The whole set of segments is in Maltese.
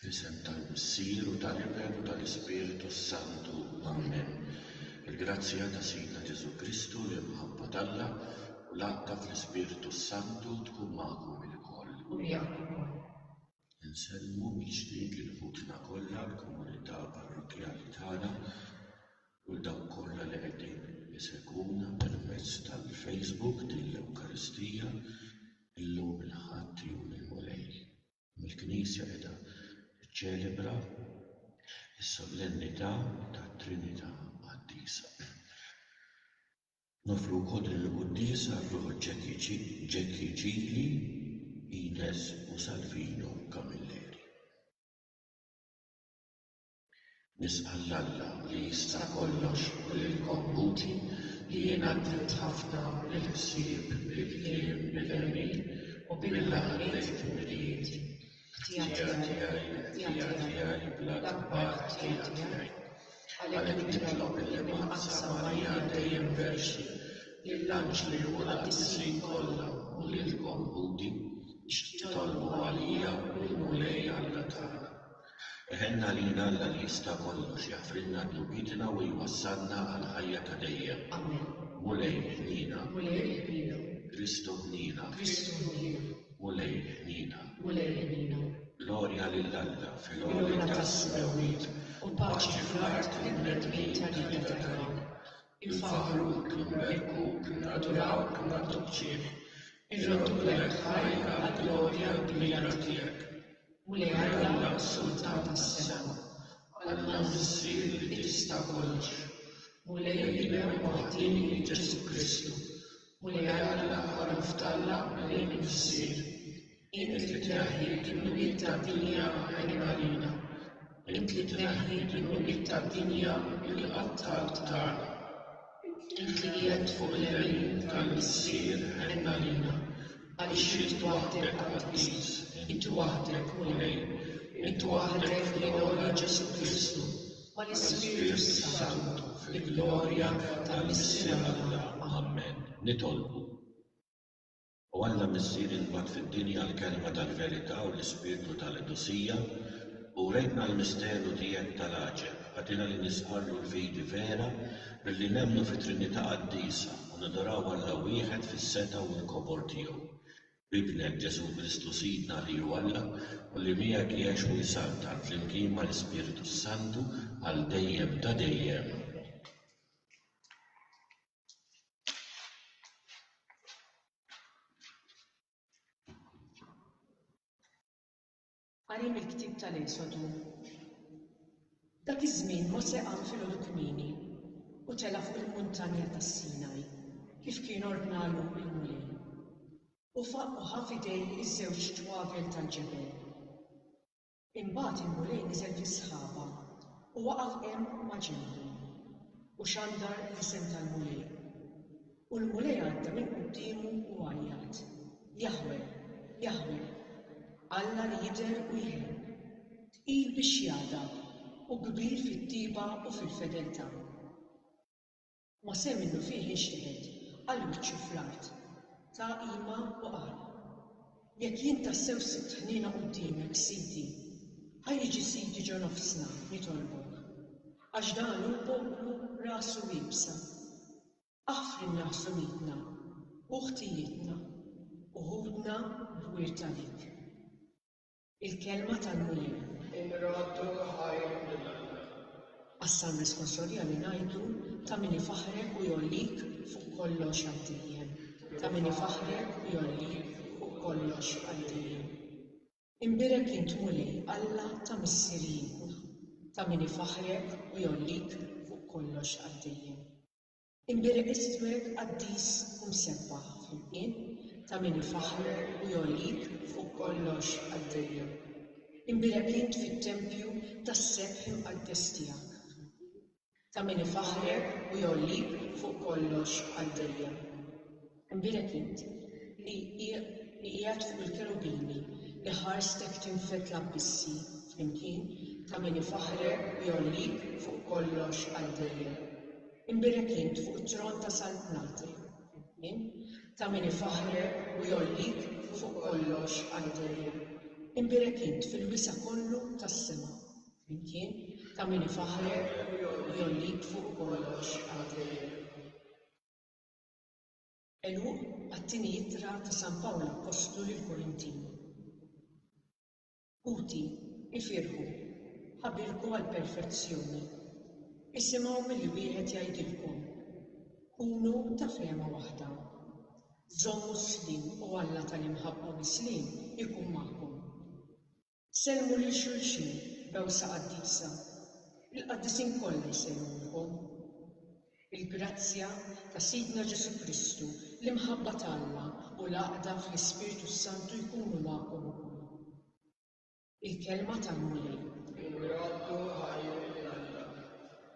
Fl-isem tal-Missier u tal-Iben u tal-Ispirtu s-Santu. Amen. Il-grazzja ta' Sidna Ġesù Kristu, l-imħabba t'Alla, u l-għaqda fl-Ispirtu s-Santu tkun magħkom ilkoll. U miegħek ukoll. Insellmu mill-ġdid lil ħutna kollha, l-komunità parrokkjali tagħna, u 'l dawk kollha li qegħdin isegwuna permezz tal-Facebook din l-Ewkaristija illum il-Ħadd, Jum il-Mulej. Il-Knisja qiegħda tiċċelebra s-Solennità tat-Trinità Qaddisa. Noffru wkoll din il-quddiesa għar-ruħ Ġekki Ġili, Ines u Salvino Camilleri. Nis'al Alla li jista' kollox u lilkom ħuti li jien għaddimt ħafna mill-ħsieb, bil-kliem, bil-għemil u bil-laqgħat il-ġmielijiet. Ħtija tiegħi, ħtija tiegħi, bla kbar ħtija tiegħi. Għalhekk nitlob il-Imma Aqsa Marija dejjem Verxni, lill-anġli u l-qaddisin kollha u lilkom ħuti biex titolbu għalija lill-Mulej Alla tagħna. Iħenn għalina Alla li jista' kollox jaħfrilna dnubietna u jwassalna għal ħajja ta' dejjem. Amen. Mulej ħniena. Mulej ħniena. Kristu ħniena. Kristu ħniena. Mulej ħniena. Mulej ħniena. Glorja lil Alla fil-għoli tas-smewwiet u paċi fl-art lill-bnedmin ta' rida tajba. Infaħħru b'hekk l-Imberku, innadurawh, inaddoċċih, irrodduh lejk ħaj għall-glorja kbira tiegħek. Mulej Alla, Sultan tas-sema, Alla l-Missier li tista' kollox, Mulej il-Imem Waħdieni Ġesù Kristu, u li Alla ħoloq f'Alla għalin u f'sir, int li tneħħi d-dnubiet tad-dinja għenien għalina, int li tneħħi d-dnubiet tad-dinja billi qattalt Karl, int li qiegħedt fuq il-lemin tal-Missier għen għalina, għaliex int waħdek Qaddis, int waħdek Mulej, int waħdek li għola Ġesù Kristu. ma' l-Ispirtu s-Santu fil-glorja ta' Missir Alla. Amen. Nitolbu. O Alla Missier li nbgħatt fid-dinja l-Kelma tal-Verità u l-Ispirtu ta' l-qdusija, urejtna l-misteru tiegħek ta' l-għaġeb, agħtina li nistqarru l-fidi vera billi nemmnu fit-Trinità Qaddisa u nadoraw Alla wieħed fis-setgħa u l-kobor tiegħu. b'Ibnek, Ġesù Kristu Sidna li hu Alla u li miegħek jgħix u jsaltan, flimkien mal-Ispirtu s-Santu, għal dejjem ta' dejjem. Qari mill-ktieb tal-Esodu Dak iż-żmien Mosè qam filgħodu kmieni u tela' fuq il-muntanja tas-Sinaj, kif kien ordnalu l-Mulej. U faq u ħa f'idejh iż-żewġ twagel tal-ġebel. Imbagħad il-Mulej niżel fis-sħaba u waqaf hemm maġenbu, u xandar l-isem tal-Mulej. U l-Mulej għadda minn quddiemu u għajjat, Jaħweh, Jaħweh, Alla li jidher u jħebb, tqil bix-xjada u kbir fit-tjieba u fil-fedeltà. Mosè minnufih inxteħet, qal wiċċu fl-art, ta qima u qal, Jekk jien tassew sibt ħniena quddiemek, Sidi, ħa jiġi sidi ġo nofsna, nitolbok, għax dan hu poplu rasu iebsa. Aħfrilna ħsunietna u ħtijietna, u ħudna b'wirt għalik. Il-Kelma tal-Mulej. Inradu l-ħajr lil Alla. Qassam responsorja li ngħidu ta' min ifaħħrek u jgħollik fuq kollox għal dejjem, ta' min ifaħħrek u jgħollik fuq kollox għal dejjem. Imbierek int Mulej Alla ta' missirijietna, ta' min ifaħħrek u jgħollik fuq kollox għal dejjem. Imbierek iswed qaddis u msebbaħ flimkien ta' min ifaħħrek u jgħollik fuq kollox qaddejja. Imbierek int fit-tempju tas-sebħ imqaddes tiegħek flimkien ta' min ifaħħrek u jgħollik fuq kollox qaddejja. Nbierek int, li qiegħed fuq il-kerubini, li ħarstek tinfed l-abbissi flimkien, ta' min ifaħħrek u jgħollik fuq kollox għal dejjem. Nbierek int fuq it-tron ta' saltnatek flimkien, ta' min ifaħħrek u jgħollik fuq kollox għal dejjem. Nbierek int fil-wisa' kollu tas-sema flimkien, ta' min ifaħħrek u jgħollik fuq kollox għal dejjem. Għeluq għat-Tieni Ittra ta' San Pawl Appostlu lill-Korintin. Ħuti, ifirħu, ħabirku għall-perfezzjoni. Isimgħu milli wieħed jgħidilkom, Kunu ta' fehma waħda. Żommu s-sliem u Alla tal-imħabba misliem ikun magħkom. Sellmu lil xulxin b'għewsa qaddisa, il-qaddisin kollha jsellmulkom. Il-grazzja ta' Sidna Ġesù Kristu, l-imħabba t'Alla u l-għaqda fl-Ispirtu s-Santu jkunu magħkom ukoll. Il-Kelma tal-Mulej. Bil-għoddu ħajr minn Alla.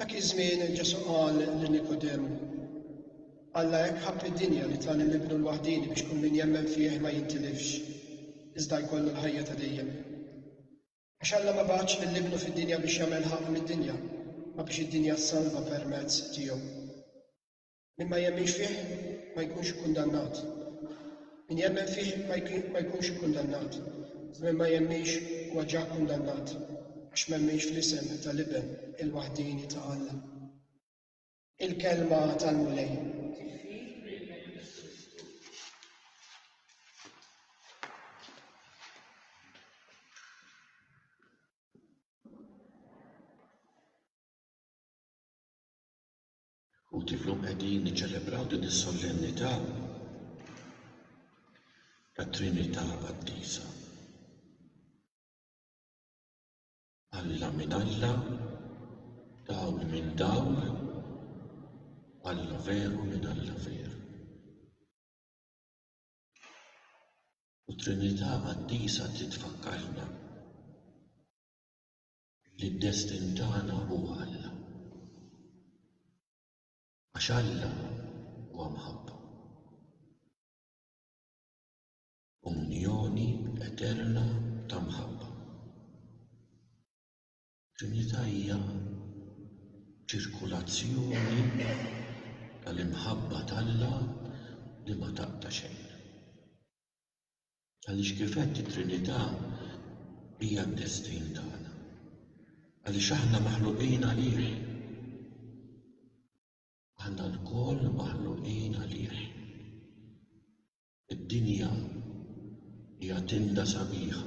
Dak iż-żmien Ġesù qal lil Nikodemu, Alla hekk ħabb id-dinja li ta lil Ibnu l-waħdieni biex kull min jemmen fih ma jintilifx, iżda jkollu l-ħajja ta' dejjem. Għax Alla ma bagħatx lil Ibnu fid-dinja biex jagħmel ħaqq mid-dinja, ma biex id-dinja ssalva permezz tiegħu. Min ma jemminx fih ma jkunx ikkundannat. Min jemmen fih ma jkunx ikkundannat. Min ma jemminx huwa ġa kkundannat għax m'emminx fl-isem tal-Iben il-waħdieni ta' Alla. Il-Kelma tal-Mulej. Uħud illum qegħdin jiċċelebraw din is-sollennità tat-Trinità Qaddisa. Alla minn Alla, dawl minn dawl, Alla veru minn Alla veru. U t-Trinità Qaddisa trid tfakkarna li d-destin tagħna huwa Alla. Għax Alla huwa mħabba. Unjoni eterna ta' mħabba. Trinità hija ċirkulazzjoni tal-imħabba t'Alla li ma taqta' xejn. Għaliex kif għedt it-Trinità hija d-destin tagħna. Għaliex aħna maħluqin għalih. Aħna lkoll maħluqin għalih. Id-dinja hija tinda sabiħa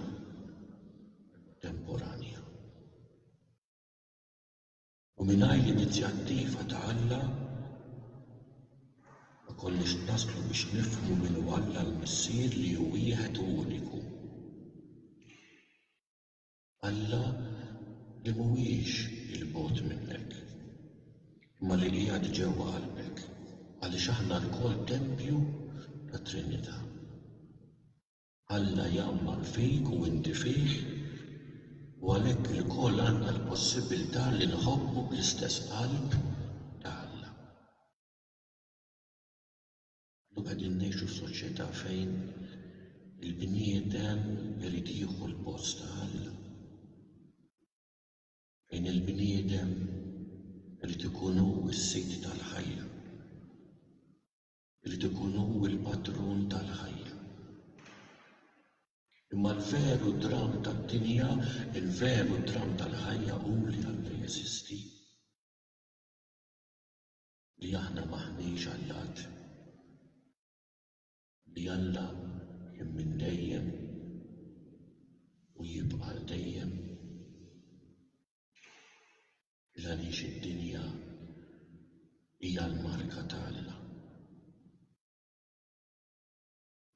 temporanja. U mingħajr l-inizjattiva ta' Alla ma konniex naslu biex nifhmu min hu Alla l-Missier li hu wieħed u uniku. Alla li mhuwiex 'il bogħod minnek, imma li qiegħed ġewwa qalbek, għaliex aħna lkoll tempju tat-Trinità. Alla jgħammar fik u inti fih, u għalhekk ilkoll għandna l-possibbiltà li nħobbu bl-istess qalb ta' Alla. Illum qegħdin ngħixu f'soċjetà fejn il-bniedem irid jieħu l-post ta' Alla, fejn il-bniedem irid ikun hu s-sid tal-ħajja. Irid ikun hu l-patrun tal-ħajja. Imma l-veru dramm tad-dinja, il-veru dramm tal-ħajja hu li Alla jeżisti. Li aħna m'aħniex għallat. Li Alla kien minn dejjem u jibqa' għal dejjem. 'l għaliex id-dinja hija l-marka ta' Alla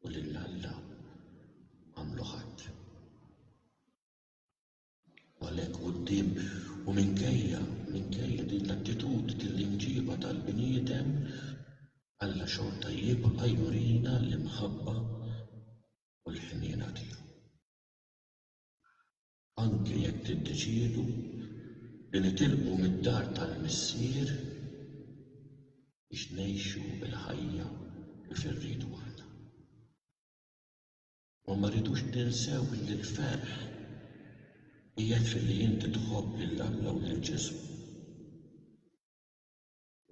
u lil Alla m'għamlu ħadd. U għalhekk quddiem u minkejja, minkejja din l-attitudni, din l-imġiba tal-bniedem, Alla xorta jibqa' jurina l-imħabba u l-ħniena tiegħu. Anke jekk tiddeċiedu li nitilqu mid-dar tal-Missier biex ngħixu l-ħajja kif irridu aħna. Imma ma rridux ninsew li l-ferħ qiegħed filli inti tħobb lil Alla u lil Ġesù.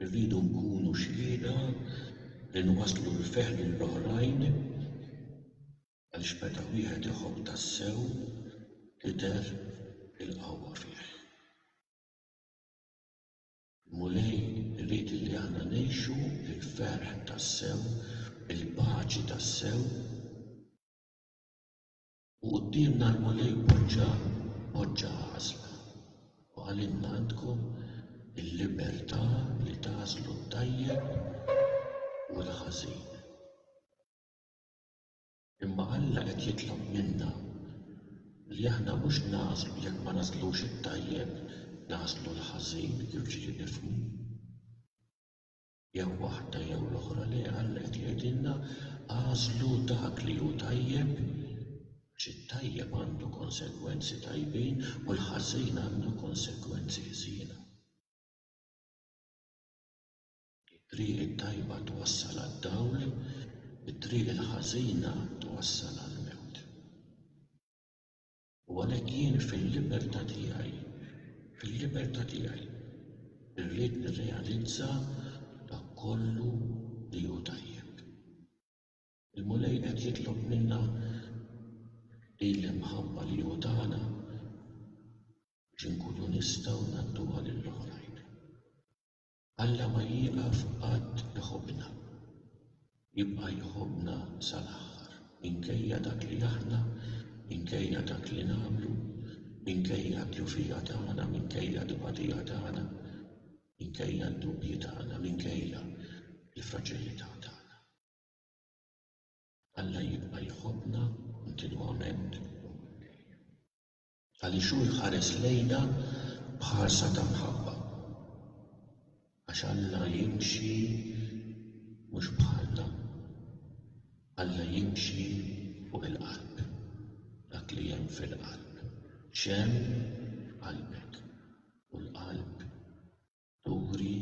Irridu nkunu xhieda li nwasslu l-ferħ lil oħrajn Għaliex meta wieħed iħobb tassew tidher il-qawwa fih. Il-Mulej irid li aħna ngħixu l-ferħ tassew, il-paċi tassew. U quddiemna l-Mulej poġġa poġġa għażla u qalilna għandkom il-libertà li tagħżlu t-tajjeb u l-ħażin. Imma Alla qed jitlob minna li aħna mhux nagħżlu jekk ma nagħżlux it-tajjeb nagħżlu l-ħażin jiġifieri nifhmu jew waħda jew l-oħra le Alla qed jgħidilna għażlu dak li hu tajjeb għax it-tajjeb għandu konsegwenzi tajbin u l-ħażin għandu konsegwenzi ħżiena. It-triq it-tajba twassal għad-dawl, it-triq il-ħażina twassal għall-mewt. U għalhekk jien fil-libertà tiegħi, fil-libertà tiegħi, irrid nirrealizza dak kollu li hu tajjeb. Il-Mulej qed jitlob minna din l-imħabba li hu tana biex inkunu nistgħu ngħadduha lill-oħrajn. Alla ma jieqaf qatt iħobbna. Jibqa' jħobbna sal-aħħar, minkejja dak li aħna, minkejja dak li nagħmlu, minkejja d-djufija tagħna, minkejja t-tbatija tagħna, minkejja d-dubji tagħna, minkejja l-fraġilità tagħna. Alla jibqa' jħobbna kontinwament u għal dejjem. Għaliex hu jħares lejna b'ħarsa ta' mħabba. Għax Alla jimxi mhux bħalna. Alla jimxi fuq il-qalb. Dak li hemm fil-qalb. X'hemm f'qalbek. U l-qalb turi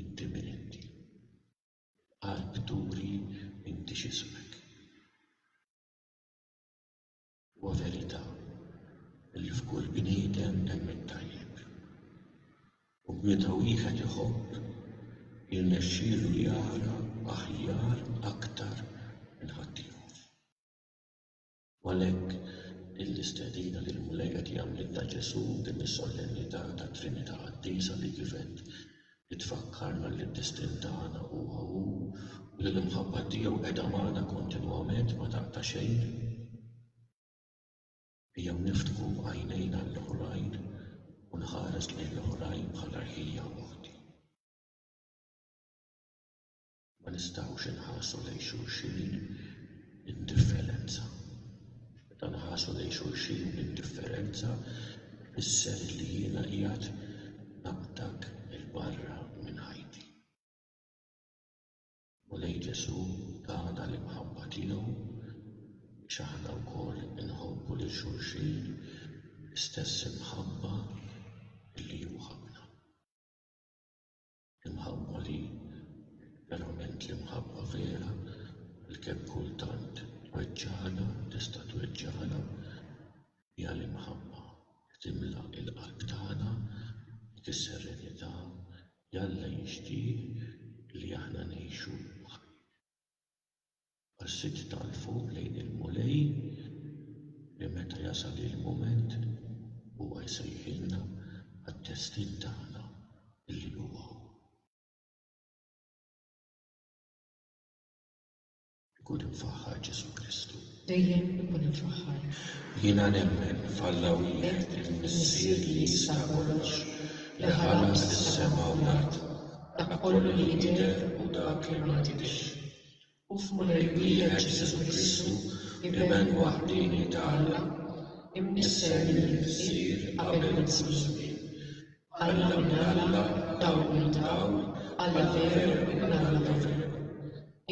inti min inti. Il-qalb turi inti x'ismek. Huwa verità li f'kull bniedem hemm it-tajjeb. U meta wieħed iħobb, jirnexxielu jara aħjar aktar minn ħaddieħor. U għalhekk din l-istedina li l-Mulej qed jagħmlilna Ġesù f'din is-Solennità tat-Trinità Qaddisa li kif għedt li tfakkarna li d-destin tagħna huwa hu u li l-imħabba tiegħu qiegħda magħna kontinwament ma taqta' xejn. Ejjew niftħu għajnejna għall-oħrajn u nħares lejn l-oħrajn bħala rħija oħti. Ma nistgħux inħarsu lejn xulxin b'indifferenza. Meta nħarsu lejn xulxin b'indifferenza jfisser li jiena qiegħed naqbdak 'il barra minn ħajti. Mulej Ġesu' tana l-imħabba tiegħu biex aħna wkoll inħobbu lil xulxin bl-istess imħabba li hu ħabbna. Imħabba li verament l-imħabba vera li kemm kultant tweġġagħna u tista' tweġġagħna hija l-imħabba li timla l-qalb tagħna dik is-serenità li Alla jixtieq li aħna ngħixu ħajjitna. Ħassejt tagħrfu lejn il-Mulej li meta jasal il-mument Huwa jsejħilna għad-destin tagħna li huwa Hu. Ikun imfaħħar Ġesù Kristu. Dejjem ikun imfaħħar. Jiena nemmen f'Alla wieħed il-Missier li jista' kollox, li ħalaq is-sema u l-art, dak kollu li jidher u dak li ma jidhirx. u f'Mulej wiħed Ġesù Kristu, Iben waħdieni ta' Alla, imnissel mill-Missier qabel jaslu ż-żmien. Alla minn Alla, Dawl minn Dawl, Alla veru Ibn Alla veru.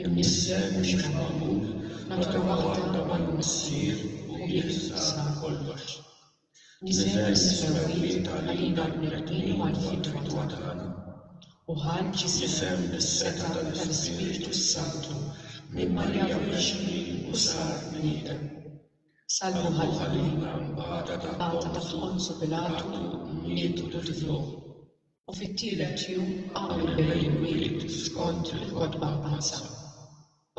Imnissel mhux magħmul, natura waħda mal-Missier u bih sar kollox. Iżel mis-smarwijiet għalina l-bnedmin u għall-fidwa tagħna, u ħareġ ġisem bis-setgħa tal-Ispirtu s-Santu minn Marija Verġni u sar bniedem. Salvuh għalina mbagħad għada ta' Ponzu Pilatu miet u dfnuh, u fit-tielet jum qam minn bejn l-imwiet skont il-kotba mqaddsa.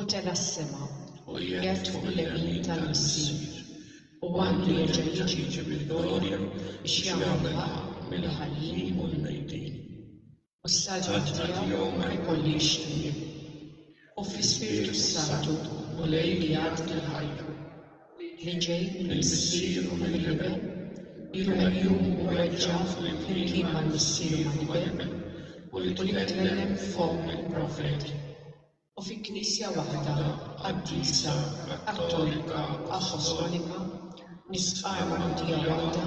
U tela' s-sema, u qiegħed fuq il-lemin tal-Missier, u għandu jerġa' jiġi bil-glorja biex jagħmel ħaqq mill-ħajjin u l-mejtin. U s-saltna tiegħu ma jkollhiex tmiem. U fl-Ispirtu s-Santu u l-għeljad tal-ħajja, li ġej mill-Missier u mill-Iben, ilu meqjum u mweġġa' flimkien mal-Missier u mal-Iben, u li tkellem b'fomm il-profeti. u fi Knisja waħda qaddisa Kattolika Appostolika nistqarr mgħotija waħda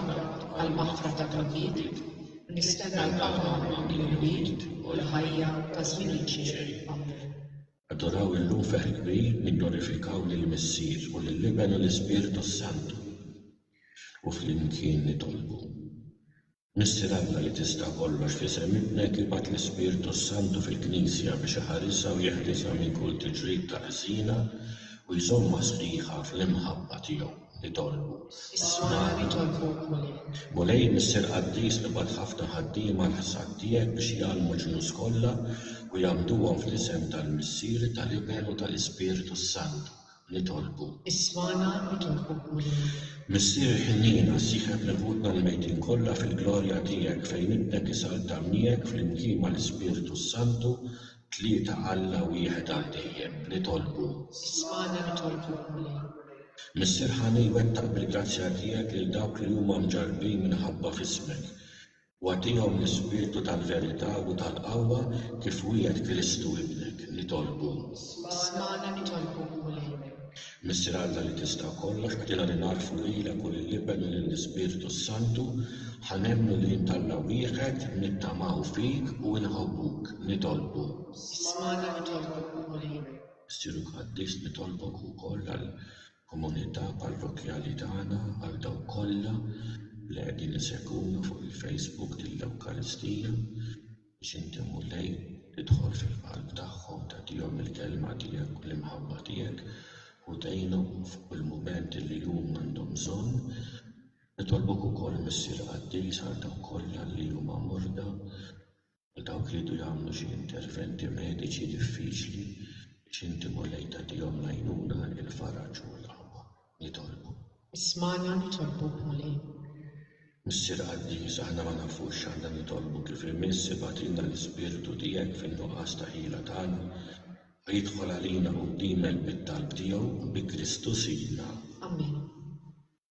għall-maħfra ta' dnubiet u nistenna l-Papa li jrid u l-ħajja ta' żmien il-ġej. Amen. Adoraw illum ferħ kbir nigglorifikaw lill-Missier u lill-Iben u l-Ispirtu s-Santu u flimkien nitolbu. Missier Alla li tista' kollox f'isem Ibnek ibgħat l-Ispirtu s-Santu fil-Knisja biex iħarisha u jeħrisha minn kull tiġrid ta' ħżiena u jżommha sħiħa fl-imħabba tiegħu. Nitolbu. Ismagħna nitolbuk, Mulej. Mulej, Missier Qaddis, ibgħat ħafna ħaddiema għall-ħsad tiegħek biex jgħallmu l-ġnus kollha u jgħammduhom fl-isem tal-Missier, tal-Iben u tal-Ispirtu s-Santu. nitolbu. Ismagħna nitolbu Mulej. Missier ħniena, sieħeb lil ħutna l-mejtin kollha fil-glorja tiegħek fejn Ibnek isalta miegħek flimkien mal-Ispirtu s-Santu, tlieta Alla wieħed għal dejjem, nitolbu. Ismagħna nitolbu Mulej. Missier ħani wettaq bil-grazzja tiegħek lil dawk li huma mġarrbin minħabba f'ismek. U agħtihom l-ispirtu tal-verità u tal-qawwa kif wiegħed Kristu Ibnek, nitolbu. Smagħna nitolbu, Mulej. Missier Alla li tista' kollox, agħtina li nagħrfu lilek u lill-Iben u lill-Ispirtu s-Santu, ħa nemmnu li int Alla wieħed, nittamaw fik u inħobbuk, nitolbu. Smagħna nitolbu, Mulej. Missieru Qaddis, nitolbok ukoll għal. Komunità parrokkjali tagħna għal dawk kollha li qegħdin isegwuna fuq il-Facebook dil-Ewkaristija biex Inti Mulej tidħol fil-qalb tagħhom tagħtihom il-Kelma Tiegħek u l-Imħabba Tiegħek u tgħinhom f'kull mument li huma għandhom bżonn. Nitolbok ukoll Missier Qaddis għal dawk kollha li huma morda. u dawk li jridu jagħmlu xi interventi mediċi diffiċli biex inti Mulej tagħtihom l-għajnuna, il-faraġ u l-qawwa. Nitolbu. Ismagħna nitolbuk Mulej. Missier Qaddis, aħna ma nafux x'għandna nitolbu kif imiss, ibagħtilna l-Ispirtu tiegħek fin-nuqqas ta' ħila tagħna, ħa jidħol għalina qudiemek bit-talb tiegħu, bi Kristu Sidna. Amen.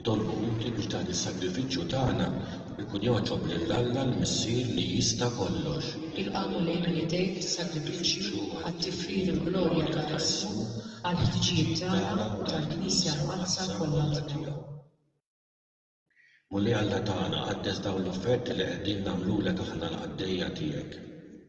Nitolbu inti biex dan is-sagrifiċċju tagħna jkun jogħġob lil Alla l-Missier li jista' kollox. Ilqagħu lejn idejk is-sagrifiċċju għat-tifħir il-glorja ta' Ġesù għall-ħtiġijiet tagħna u tal-Knisja Mqaddsa kollha tiegħu. Mulej Alla tagħna, qaddes dawn l-offerti li qegħdin nagħmlulek aħna l-qaddejja tiegħek.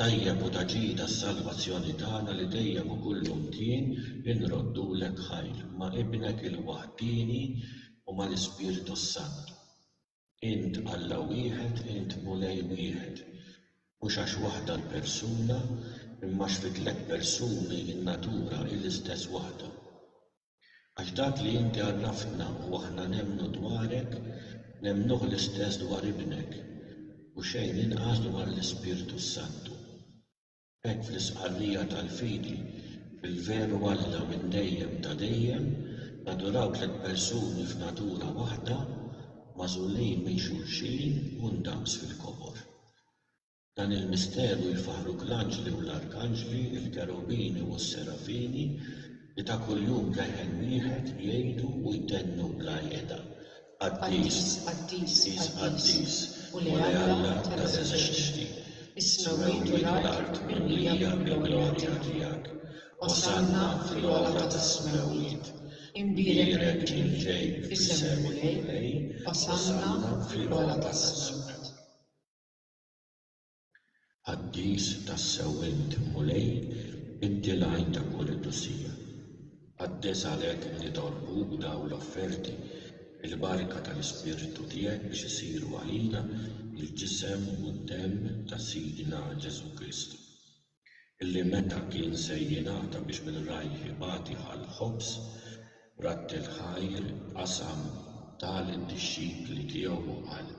tajjeb u ta' ġida s-salvazzjoni tagħna li dejjem u kull imkien inroddulek ħajr, ma' Ibnek il-waħdieni u mal-Ispirtu s-Santu. Int Alla wieħed, int Mulej wieħed. Mhux għax waħda l-persuna, imma għax fit-tliet persuni n-natura hi l-istess waħda. Għax dak li inti għarraftna u aħna nemmnu dwarek, nemmnuh l-istess dwar Ibnek, u xejn inqas dwar l-Ispirtu s-Santu. B'hekk fl-istqarrija tal-fidi fil-veru Alla minn dejjem ta' dejjem, naduraw tliet persuni f'natura waħda, magħżulin minn xulxin u ndaqs fil-kobor. Dan il-misteru jfaħħru bl-anġli u l-arkanġli, il-kerubini u s-serafini, li ta' kuljum leħen wieħed jgħidu u jtennu bla qiegħda, Qaddis, qaddis, qaddis, Mulej Alla tal-eżerċti, is-smewwiet u l-art mimlija mill-glorja tiegħek. Osanna fil-ogħla tas-smewwiet. Imbierek min ġej f'isem il-Mulej, osanna fl-ogħla tas-smewwiet. Qaddis tassew int, Mulej, inti l-għajn ta' kull qdusija. Qaddes għalhekk nitolbuk dawn l-offerti, il-barka tal-Ispirtu tiegħek biex isiru għalina l-ġisem u d-demm ta' Sidna Ġesù Kristu, illi meta kien se jingħata biex minn rajh ibati ħa l-ħobż, b'radd il-ħajr qasam, ta lid-dixxipli tiegħu u qal.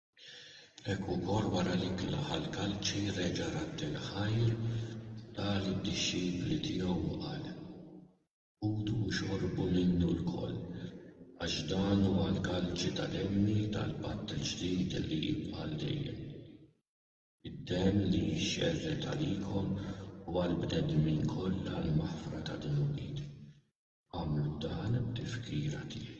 Hekk ukoll wara li tnaħa l-kalċi reġa' radd il-ħajr, ta' lid-dixxipli tiegħu u qal, Kulu u xorbu minnu lkoll, għax dan huwa l-kalċi ta' demmi tal-patt il-ġdid li jibqa' għal dejjem. Id-demm li jixxerred għalikom u għall-bnedmin kollha għall-maħfra ta' dnubiet. Agħmlu dan b'tifkira tiegħi.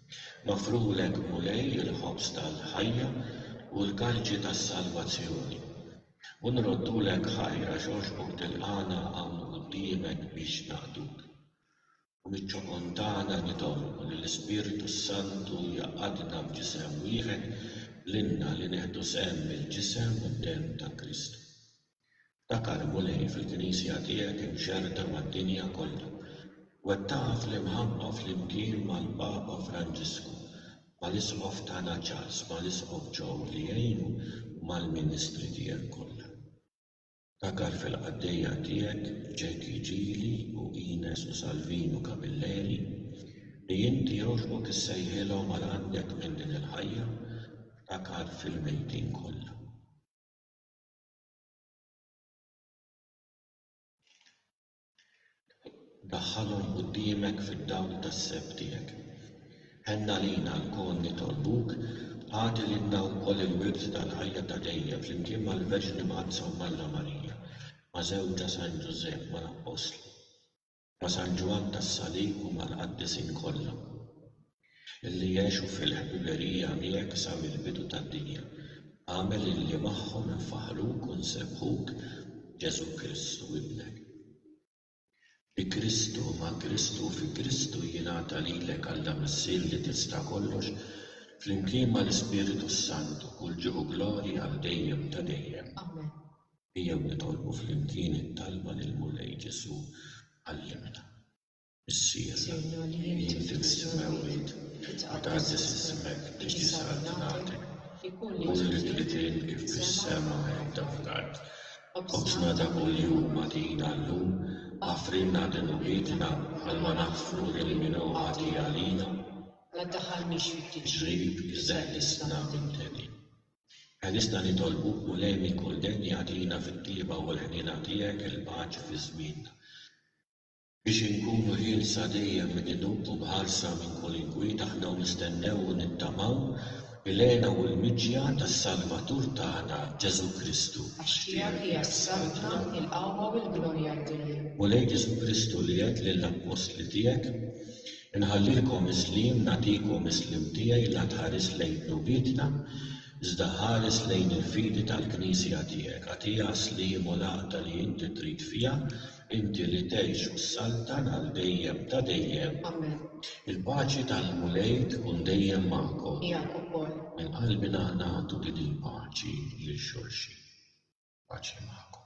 Magħfrulek, Mulej, il-ħobż tal-ħajja u l-kalċi tas-salvazzjoni. U nroddulek ħajr għax għoxbok tilqagħna hawn quddiemek biex naqduk. U miċ-ċokon tagħna nitolbu li l-Ispirtu s-Santu jgħaqqadna f'ġisem wieħed lilna li nieħdu sehem mill-ġisem u d-demm ta' Kristu. Dakarh, Mulej, fil-Knisja tiegħek imxerrda mad-dinja kollha. Wettaqha fl-imħabba flimkien mal-Papa Franġisku, mal-Isqof tagħna Charles, mal-Isqof Joe li jgħinu u mal-ministri tiegħek kollha. Dakarh fil-qaddejja tiegħek Jackie Gili u Ines u Salvinu Camilleri li inti jogħġbok issejħilhom għal għandek minn din il-ħajja, ftakar fil-mejtin kollha. Daħħalhom quddiemek fid-dawl tas-seb tiegħek. Ħenn għalina lkoll nitolbuk, agħti lilna wkoll il-wirt tal-ħajja ta' dejjem flimkien mal-Verġni Mqaddsa u m'Alla Marija, ma' żewġha San Ġużepp, mal-Appostli. Ma' San Ġwann tas-Salib u mal-Qaddisin kollha, illi jgħixu fil-ħbiberija miegħek sa mill-bidu tad-dinja, agħmel illi magħhom infaħħruk u nsebbħuk b'Ġesù Kristu Ibnek. Bi Kristu, ma' Kristu u fi Kristu jingħata lilek, Alla Missier li tista' kollox, flimkien mal-Ispiritu s-Santu, kull ġieħ u glorja għal dejjem ta' dejjem. Amen. Ejjew nitolbu flimkien it-talba lill-Mulej Ġesù, Għallimna, Missier, li inti mis-Semewwiet ma tgħaddix ismek biex jisħaq ġnattek, ikun li trid int kif fis-sema hekk hawn fl-art. Ħobżna ta' kuljum agħtina llum, aħfrilna dinubietna bħalma naħfru lil min hu ħati għalina. La ddaħħalniex fid-diġ. Ġrib, iżeħħ ħissna minn tedin. Għalissa nitolbu, Mulej minn kull denja agħtina fit-tjieba u l-ħniena tiegħek il-paċi fi żmienna, biex inkunu ħielsa dejjem minn inub u mħarsa minn kull inkwiet aħna u nistennew u nittamaw il-hena u l-miġja tas-Salvatur tagħna, Ġesù Kristu. Għax tiegħek hija s-saltna, il-qawwa u l-glorja d-dejjem. Mulej Ġesù Kristu li għedt lill-appostli tiegħek, Inħallielkom is-sliem, nagħtikom is-sliem tiegħi, la tħares lejn dnubietna, iżda ħares lejn il-fidi tal-Knisja tiegħek. Agħtiha s-sliem u l-għaqda li inti trid fiha, inti li tgħix u ssaltan għal dejjem ta' dejjem. Amen. Il-paċi tal-Mulej tkun dejjem magħkom. Miegħek ukoll. Minn qalbna nagħtu din il-paċi lil xulxin. Paċi magħkom.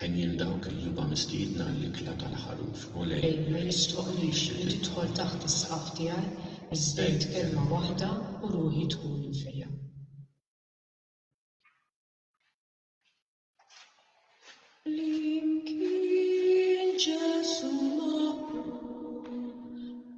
Għen lil dawk li huma mistiedna għall-ikla tal-Ħaruf u lejn. Ej, ma jistħoqqlix li tidħol taħt is-saqaf tiegħi, iżżid kelma waħda u ruħi tkun imfejja. Flimkien Ġesù maqbul.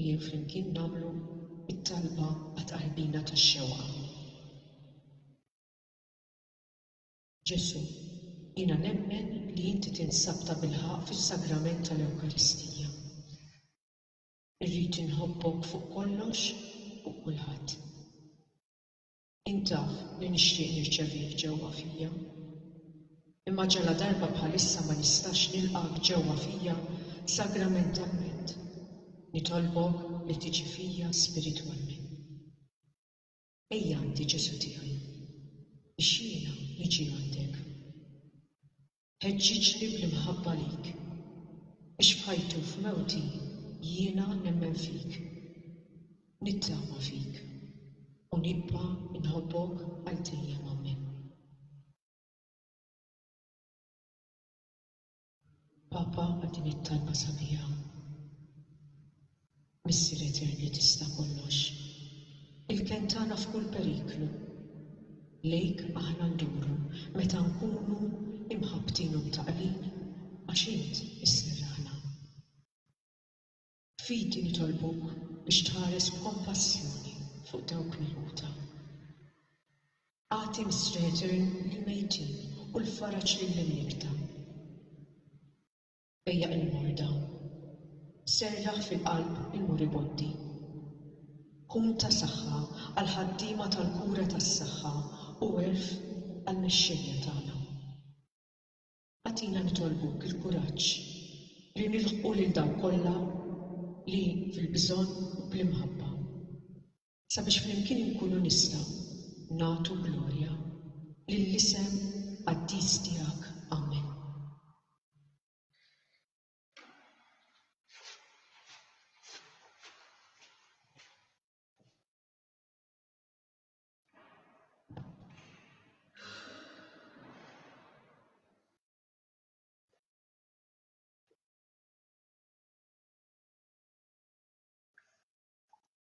Ejjew flimkien nagħmlu t-talba għat-tqarbina tax-xewqa. Ġesù, jiena nemmen li inti tinsab tabilħaqq fis-sagrament tal-Ewkaristija. Irrid inħobbok fuq kollox u kulħadd. Int taf li nixtieq nirċevih ġewwa fija. Imma ġaladarba bħalissa ma nistax nilqgħek ġewwa fija sagramentalment, nitolbok li tiġi fija spiritwalment. Ejja għandi, Ġesù tiegħi, biex jiena niġi għandek. Ħeġġiġli bl-imħabba lik. Biex f'ħajti u f'mewti jiena nemmen fik. Nittama fik. U nibqa' nħobbok għal dejjem amen. Papa għal din it-talba sabiħa. Missier Eterni Tista' Kollox, il-kenn tagħna f'kull periklu, lejk aħna nduru meta nkunu imħabbtin u mtaqqlin għax int isserraħna. B'fidi nitolbuk biex tħares b'kompassjoni fuq dawk milquta. Agħti, Missri Etern, lill-mejtin u l-faraġ lill-imnikkta. Ejjaq il-morda. Serraħ fil-qalb il-moribondi. Kun ta' saħħa għall-ħaddiema tal-kura tas-saħħa u għerf għall-mexxejja tagħna. Agħtina nitolbuk il-kuraġġ li nilħqu lil dawk kollha li fil-bżonn u bl-imħabba. sabiex flimkien inkunu nistgħu nagħtu glorja lill-isem qaddis tiegħek. Amen.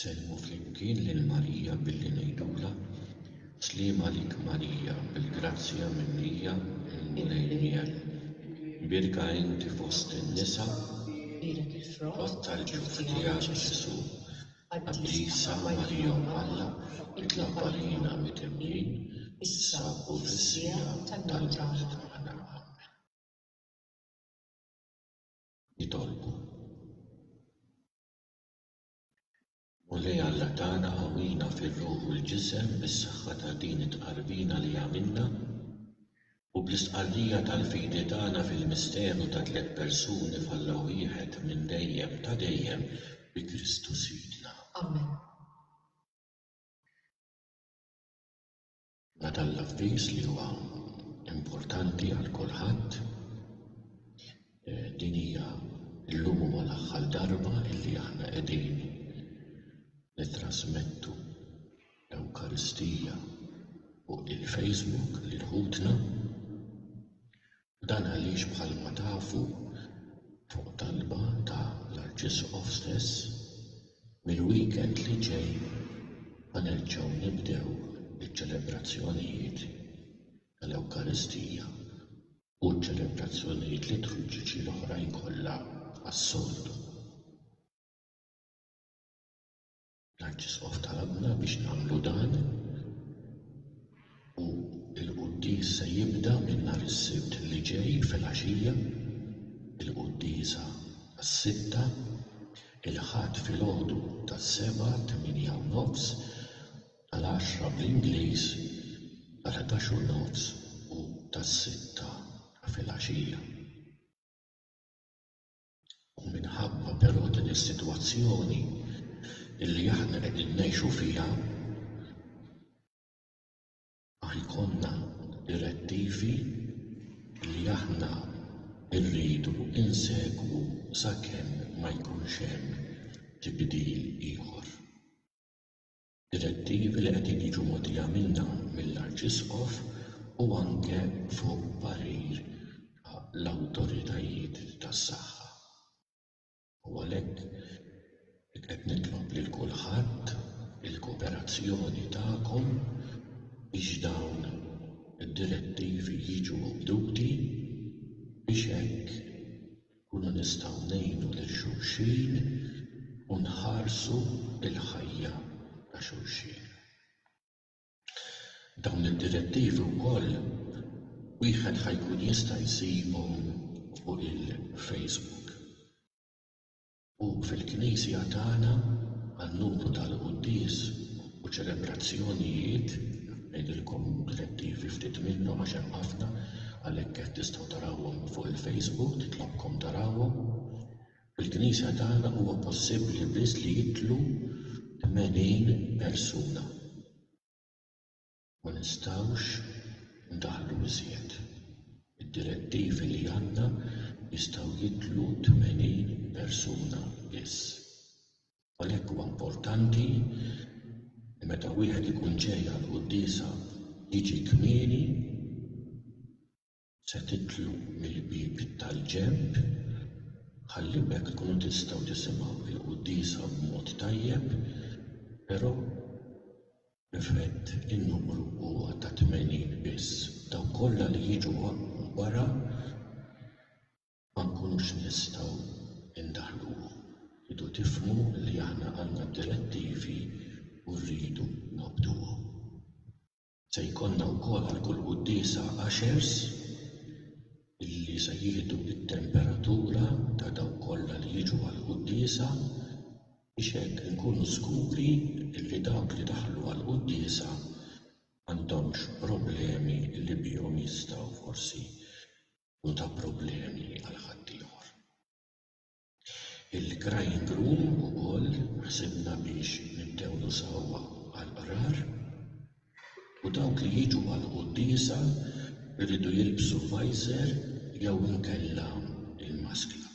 Sellmu flimkien lil Marija billi ngħidulha, Sliem għalik Marija, bil-grazzja mimlija, il-Mulej miegħek. Imbierka inti fost in-nisa, u l-frott tal-ġuf tiegħek Ġesù. Qaddisa Marija Omm Alla, itlob għalina midemnin, issa u fis-siegħa tal-mewt tagħna. Amen. Nitolbu. Mulej Alla tagħna qawwina fir-ruħ u l-ġisem bis-saħħa ta' din it-tqarbina li għamilna. U bl-istqarrija tal-fidi tagħna fil-misteru ta' tliet persuni f'Alla wieħed minn dejjem ta' dejjem, bi Kristu Sidna. Amen. Ngħata l-avviż li huwa importanti għal kulħadd. Din hija llum huwa l-aħħar darba illi aħna qegħdin nittrasmettu l-Ewkaristija fuq il-Facebook lil ħutna u dan għaliex bħalma tafu fuq talba ta' l-Arċisqof stess mill-weekend li ġej ħa nerġgħu nibdew iċ-ċelebrazzjonijiet tal-Ewkaristija u ċ-ċelebrazzjonijiet liturġiċi l-oħrajn kollha bħas-soltu. L-Arċisqof talabna biex nagħmlu dan u l-quddies se jibda minn nhar is-Sibt li ġej filgħaxija, il-quddiesa għas-sitta, il-Ħadd filgħodu tas-sebgħa, tminja u nofs, għall-għaxra bl-Ingliż, għall-ħdax u nofs u tas-sitta filgħaxija. U minħabba però din is-sitwazzjoni li aħna qegħdin ngħixu fiha, ha jkollna direttivi li aħna rridu nsegwu sakemm ma jkunx hemm tibdil ieħor. direttivi li qegħdin jiġu mogħtija minna mill-Arċisqof u anke fuq parir ta' l-awtoritajiet tas-saħħa. U għalhekk qed nitlob lil kulħadd il-kooperazzjoni tagħkom biex dawn id-direttivi jiġu mibduti biex hekk Inkunu nistgħu ngħinu lil xulxin u nħarsu l-ħajja ta' xulxin. Dawn id-direttivi wkoll wieħed ħa jkun jista' jsibhom fuq il-Facebook. U fil-Knisja tagħna, għan-numru tal-quddies u ċelebrazzjonijiet, ngħidilkom direttivi ftit minnhom għax hemm ħafna, għalhekk qed tistgħu tarawhom fuq il-Facebook, nitlobkom tarawhom, fil-Knisja tagħna huwa possibbli biss li jidħlu 80 persuna. Ma nistgħux ndaħħlu iżjed. Id-direttivi li għandna jistgħu jidħlu tmenin persuna biss. Għalhekk huwa importanti li meta wieħed ikun ġej għall-quddiesa jiġi kmieni, Se tidħlu mill-bieb tal-ġenb ħalli b'hekk tkunu tistgħu tisimgħu l-quddiesa b'mod tajjeb, però b'effett in-numru huwa ta' tmenin biss. Dawk kollha li jiġu wara ma nkunux nistgħu ndaħħluhom. Tridu tifhmu li aħna għandna d-direttivi u rridu nobduhom. Se jkollna wkoll għal kull quddiesa ushers li se jieħdu t-temperatura ta' dawk kollha li jiġu għall-quddiesa biex hekk inkunu żguri li dawk li daħlu għall-quddiesa m'għandhomx problemi li bihom jistgħu forsi jkunu ta' problemi għal ħaddieħor. Il-crying room ukoll ħsibna biex nibdew nużawha għall-qrar u dawk li jiġu għall-quddiesa jridu jilbsu visor jew inkella l-maskla.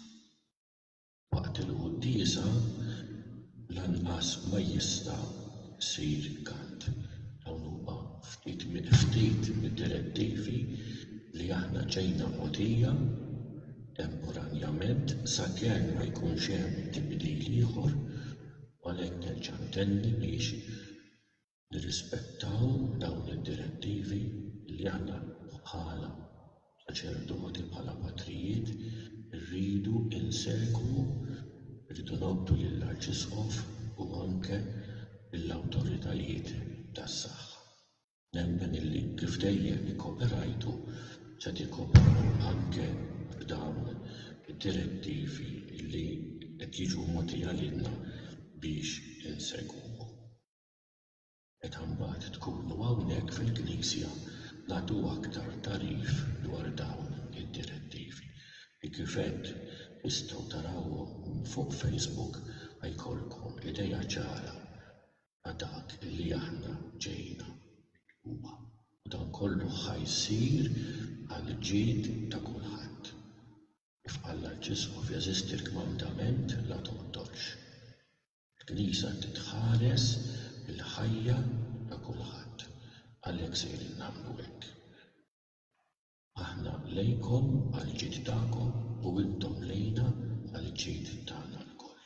Waqt il-quddiesa lanqas ma jista' jsir kant. Dawn huma ftit ftit mid-direttivi li aħna ġejna mogħtija. temporanjament sakemm ma jkunx hemm tibdil ieħor u għalhekk nerġa' ntenni biex nirrispettaw dawn id-direttivi li aħna bħala saċerdoti, bħala patrijiet irridu nsegwu, irridu ngħoddu lill-Arċisqof u anke lill-awtoritajiet tas-saħħa. Nemmen illi kif dejjem ikkoperajtu se tikkooperaw anke b'dawn id-direttivi illi qed jiġu mogħtija lilna biex insegwuhom. Meta mbagħad tkunu hawnhekk fil-Knisja nagħtu aktar tagħrif dwar dawn id-direttivi li kif għedt tistgħu tarawhom fuq Facebook ħa jkollkom idea ċara Ma' dak li aħna ġejna. Huwa. U dan kollu ħa jsir għall-ġid ta' kulħadd. Kif qal l-Arċisqof jeżisti l-kmandament la toqtolx. Il-Knisja trid tħares il-ħajja ta' kulħadd. Għalhekk sejrin nagħmlu hekk. Aħna lejkom għall-ġid tagħkom u intom lejna għall-ġid tagħna lkoll,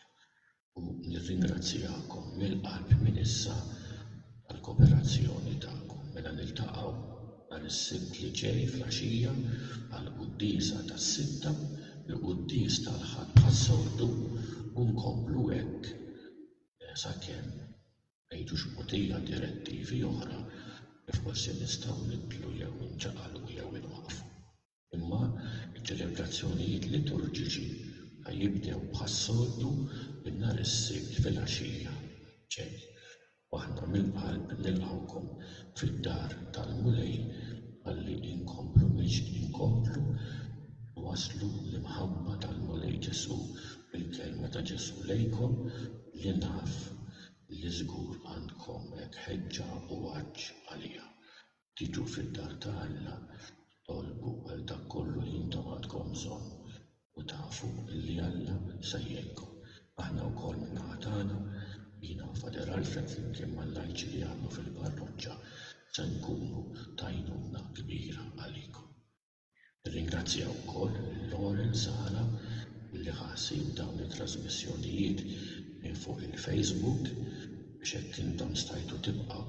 u nirringrazzjakom mill-qalb minn issa għall-kooperazzjoni tagħkom. Mela niltaqgħu nhar is-Sibt li ġej flaxija għall-quddiesa tas-Sitta, il-quddies tal-Ħadd bħas-soltu, u nkomplu hekk sakemm M'għidux mogħtija direttivi oħra li forsi nistgħu nibdlu jew inċaqalqu jew inwaqqfu. Imma ċ-ċelebrazzjonijiet liturġiċi ħa jibdew bħas-soltu minn nhar is-Sibt filgħaxija. Ġej, u aħna mill-qalb nilqgħukom fid-dar tal-Mulej ħalli inkomplu mexjin, inkomplu nwasslu l-imħabba tal-Mulej Ġesù bil-kelma ta' Ġesù lejkom li naf li żgur għandkom hekk ħeġġa u għatx għaliha, Tiġu fid-dar ta' Alla, tolbu għal dak kollu li intom għandkom bżonn, u tafu li Alla se jgħinkom. Aħna wkoll min-naħa tagħna, jiena u Father Alfred flimkien mal-lajċi li jaħdmu fil-parroċċa se nkunu ta' għajnuna kbira għalikom. Nirringrazzja wkoll lil Lauren Sala li ħa ħsieb dawn it-trasmissjonijiet minn fuq il-Facebook biex hekk intom stajtu tibqgħu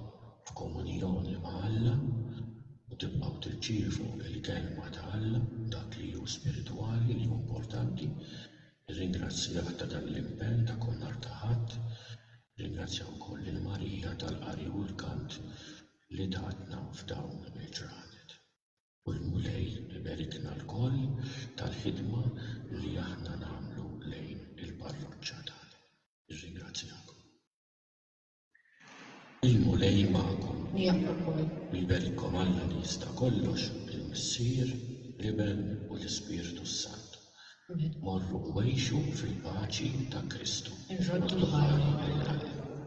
f'komunjoni ma' Alla u tibqgħu tirċievu l-kelma ta' Alla, dak li hu spiritwali, li hu importanti. Nirringrazzjah ta' dan l-impenn ta' kull nhar ta' Ħadd. Nirringrazzja wkoll lil Marija tal-qari u l-kant li tatna f'dawn il-ġranet. u l-Mulej iberikna lkoll tal-ħidma li aħna nagħmlu lejn il-parroċċa tagħna. Nirringrazzjakom. Il-Mulej magħkom. Miegħek ukoll. U jberikkom Alla li jista' kollox, il-Missier, l-Iben u l-Ispirtu s-Santu. Amen. Morru u għixu fil-paċi ta' Kristu. Irroddu l-ħajja.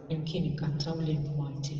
Flimkien inkantaw l-Int Malti.